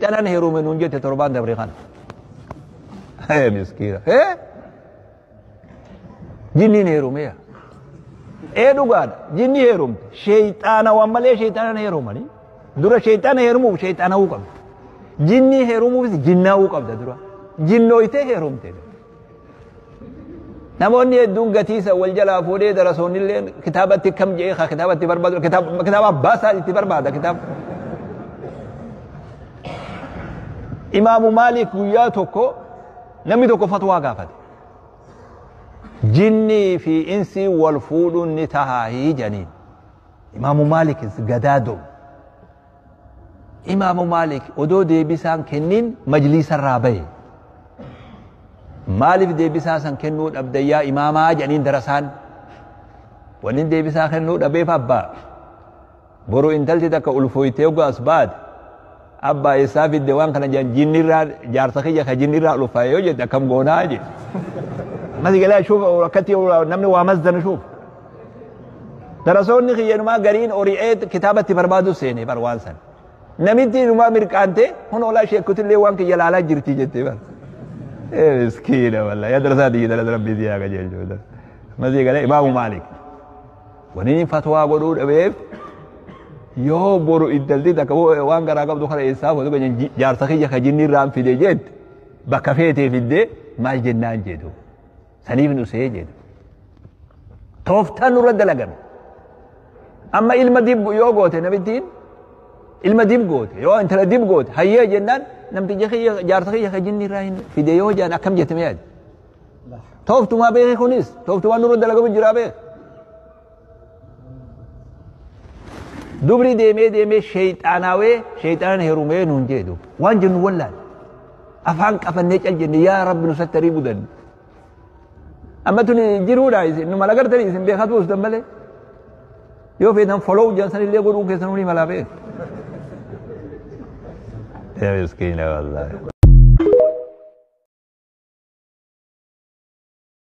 Calan heerume nuun jette torbaan dabre kana. Hee miskiina. Hee? Jinniin heerumeera. Ee dhugaadha. Jinni heerumte. Sheeyxaana waan malee sheeyxaana heerumani. Dura sheeyxaana heerumuuf sheeyxaana'uu qabda. Jinni heerumuufis jinnaa'uu qabda dura. Jinnooytee heerumte. namoonni hedduun gatiisa wal jalaa fuudhee darasoonni illee kitaabatti kam jedhee ka kitaabatti barbaadu kitaaba abbaa isaa itti barbaada kitaaba. Imaamu Maalik guyyaa tokko namni tokko fatwaa gaafate. Jinnii fi insii wal fuudhuun ni tahaa hii janiin. Imaamu Maalik gadaa doomu. Imaamu Maalik odoo deebisaan kenniin majliisarraa bahe. Maaliif deebisaa san kennuu dhabdan yaa imaamaa jedhaniin darasaan. Wanni deebisaa kennuu dhabeef abbaa. Boru intalti takka ulfooytee oggaa as baate. Abbaa eessaa fidde waan kana jedhan jinnirraa jaarsa kiyya ka jinnirraa ulfaa'e yoo jette akkam goonaa jedhe. Masi galaa shuuf akkatti namni waa masdana shuuf. darasoonni kiyyanumaa gariin ori'ee kitaaba itti barbaadu seene bar waan san namitti inumaa mirqaante kun olaa sheekutillee waan kiyya laalaa jirti jette bar miskiina walla yaa darasaa tiyya darasa rabbii siyaa qajeelchuudha masii galee imaamu maalik waniin fatwaa godhuu dhabeef yoo boru iddalti takka waan garaa qabdu kana eessaa fotu kan jaarsa kiyya ka jinni irraan fide jette bakka feetee fidde maal jennaan jedhu. saniif nu see jedhu tooftaan nurra dalagame amma ilma dib yoo goote namittiin ilma dib goote yoo intala dib goote hayyee jennaan namticha kiyya jaarsa kiyya ka jinni irraa hin fide yoo jaan akkam jetame yaade tooftumaa beeke kunis tooftumaa nurra dalagamu jiraa beeke dubri deemee deemee sheeyxaanaawee sheeyxaanaan herumee nuun jee dub waan jennu wallaal afaan qafannee cal jenne yaa rabbi nu sattarii budan amma tun jiruudha isin nu malagartanii isin beekaa tuustan malee yoo feetan follow jedhan san illee godhuu keessan hunii malaa beeku. Ya miskina wallahi.